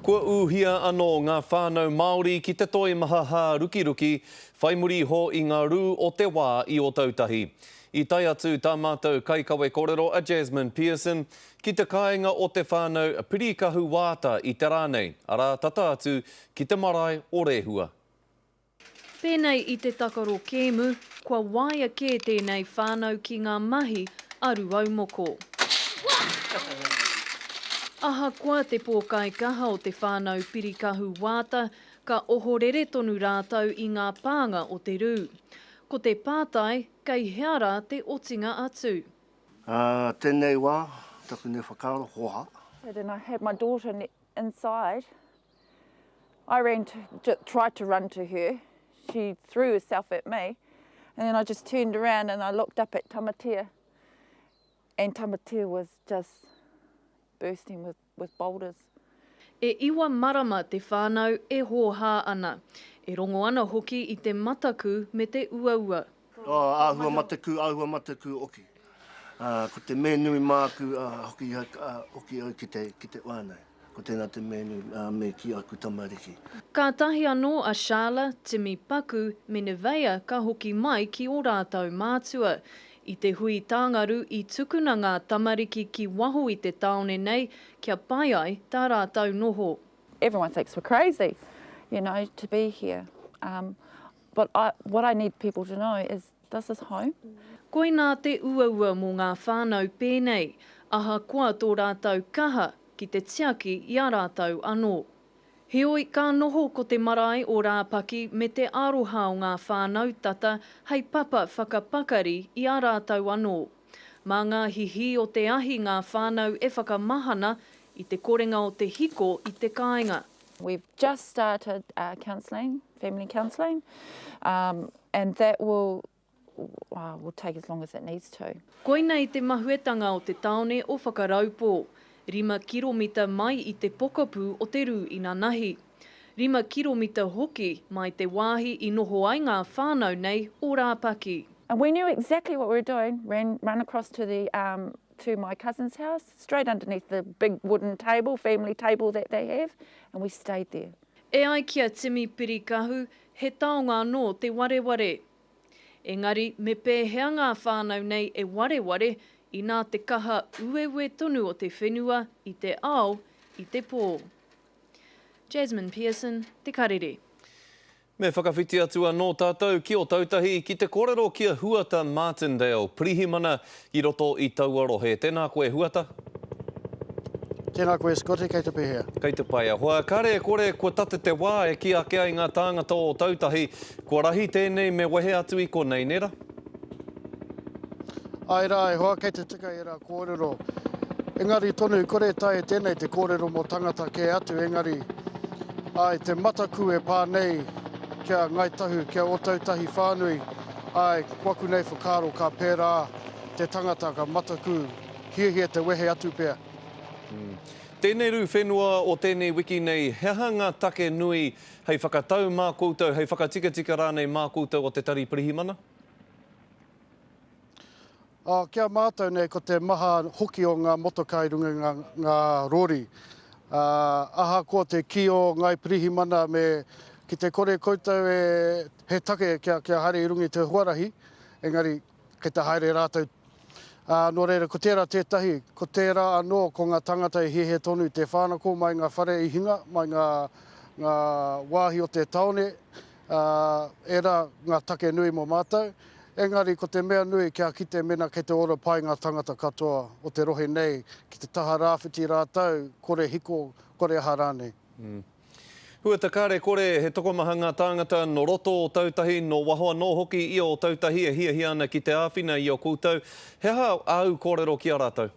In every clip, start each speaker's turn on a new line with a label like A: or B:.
A: Kua ūhia anō ngā whānau Māori ki te toimaha hārukiruki, whai muri iho i ngā rū o te wā i Ōtautahi. I tae atu tā mātou kaikawe kōrero a Jasmine Pearson ki te kāinga o te whānau Pirikahu Waata i te rā nei, arā tata atu ki te marae o Rehua.
B: Pēnei i te takaro kēmu, kua waea kē tēnei whānau ki ngā mahi a Ruaumoko. Ahakoa te pōkaikaha o te whānau Pirikahu Waata, ka ohorere tonu rātou i ngā pānga o te rū. Ko te pātai, kei hea rā te otinga atu? Ā
C: tēnei wā, taku nei whakaaro, hoha. He tena, had my
D: daughter inside. I ran to, tried to run to her, she threw herself at me, and then I just turned around and I looked up at Tamatea, and Tamatea was just bursting with, with boulders. E iwa
B: marama te whānau e hōhā ana. E rongo ana hoki i te mataku me te uaua. Āhua
C: mataku, āhua mataku oki. Ko te mea nui māku hoki au ki te whānau. Ko tēnā te mea nui me kī aku tamariki. Kātahi anō
B: a Shala, Timi, Paku me Neveah ka hoki mai ki ō rātou mātua. I te hui tāngaru i tukuna ngā tamariki ki waho i te tāone nei kia pai ai tā rātou noho. Everyone thinks we're
D: crazy, you know, to be here. But I, what I need people to know is this is home. Koinā te
B: uaua mō ngā whānau pēnei, ahakoa tō rātou kaha ki te tiaki i a rātou anō. Heoi, ka noho ko te marae o Rāpaki me te aroha o ngā whānau tata hei papa whakapakari i a rātou anō. Mā ngā hihī o te ahi ngā whānau e whakamahana i te korenga o te hiko i te kāinga. We've just
D: started uh, counselling, family counselling, um, and that will uh, will take as long as it needs to. Koina i te
B: mahuetanga o te taone o Whakaraupō, rima kiromita mai i te pokapū o te rū inanahi. Rima kiromita hoki mai te wāhi i noho ai ngā whānau nei o Rāpaki. And we knew exactly
D: what we were doing, ran, run across to the um, to my cousin's house, straight underneath the big wooden table, family table that they have, and we stayed there. E ai ki a
B: Timi Pirikahu, he taonga anō te wareware. Engari, me pēhea ngā whānau nei e wareware inā te kaha ueuē tonu o te whenua i te ao, i te pō? Jasmine Pearson, Te Karere. Me
A: whakawhiti atu anō tātou ki Otautahi, ki te kōrero ki a Huata Martindale, Pirihimana i roto i taua rohe. Tēnā koe, Huata.
E: Tēnā koe, Scotty. Kei te pēhea? Kei te pai. Ahoa,
A: kāre e kore kua tate te wā e kī ake ai ngā tāngata o Otautahi, kua rahi tēnei me wehe atu i konei, nē rā?
E: Āe rā, e hoa, kei te tika ērā kōrero. Engari tonu, i kore e taea e tēnei te kōrero mō tangata kē atu, engari, āe, te mataku e pā nei ki a Ngāi Tahu, ki a Ōtautahi whānui, āe, kua aku nei whakaaro ka pērā te tangata, ka mataku, hiahia te wehe atu pea.
A: Tēnei rū whenua o tēnei wiki nei, he aha ngā take nui Hei whakatau mā koutou, hei whakatikatika rānei mā koutou o te Tari Pirihimana?
E: Ā, ki a mātou nei ko te maha hoki o ngā motoka i runga i ngā, ngā rori. Ā, ahakoa te kī o Ngāi Pirihimana me, ki te kore koutou e, he take kia, kia haere i runga i te huarahi, engari, Kei te haere rātou. Ā, nō reira, ko tērā tētahi, ko tērā anō, ko ngā tāngata e hiahia tonu i te whānako mai ngā whare i hinga, mai ngā, ngā wāhi o te tāone, ā, ērā ngā take nui mō mātou. Engari, ko te mea nui, kia kite mēnā kei te ora pai ngā tāngata katoa o te rohe nei ki te taha rāwhiti rātou, kore hiko, kore aha rānei.
A: Huata kare kore he tokomaha ngā tāngata nō roto o Tautahi, nō waho anō hoki i ō Tautahi e hiahia ana ki te āwhina i a koutou, he aha āu kōrero ki a rātou?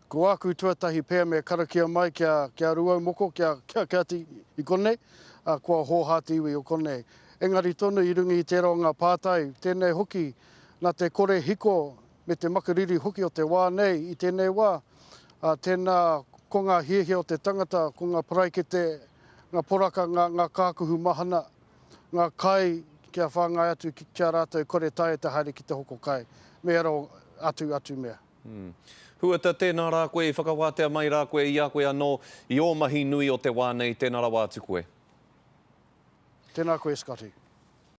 E: Ko āku tuatahi pea me karakia mai kia, kia Rūaumoko, kia, kia, kia ati i konei, ā, kua hōhā te iwi o konei. Engari tonu i runga i tērā o ngā pātai, tēnei hoki, nā te kore hiko me te makariri hoki o te wā nei i tēnei wā, ā, tēnā ko ngā hiahia o te tangata, ko ngā paraikete, ngā poraka, ngā, ngā kākuhu mahana, ngā kai kia whāngai atu ki, ki a rātou kore taea te haere ki te hoko kai, me aro atu, atu mea. Huata,
A: tēnā rā koe i whakawātea mai rā koe i a koe anō, i ō mahi nui o te wā nei, tēnā rawa atu koe.
E: Tēnā
A: koe Scotty.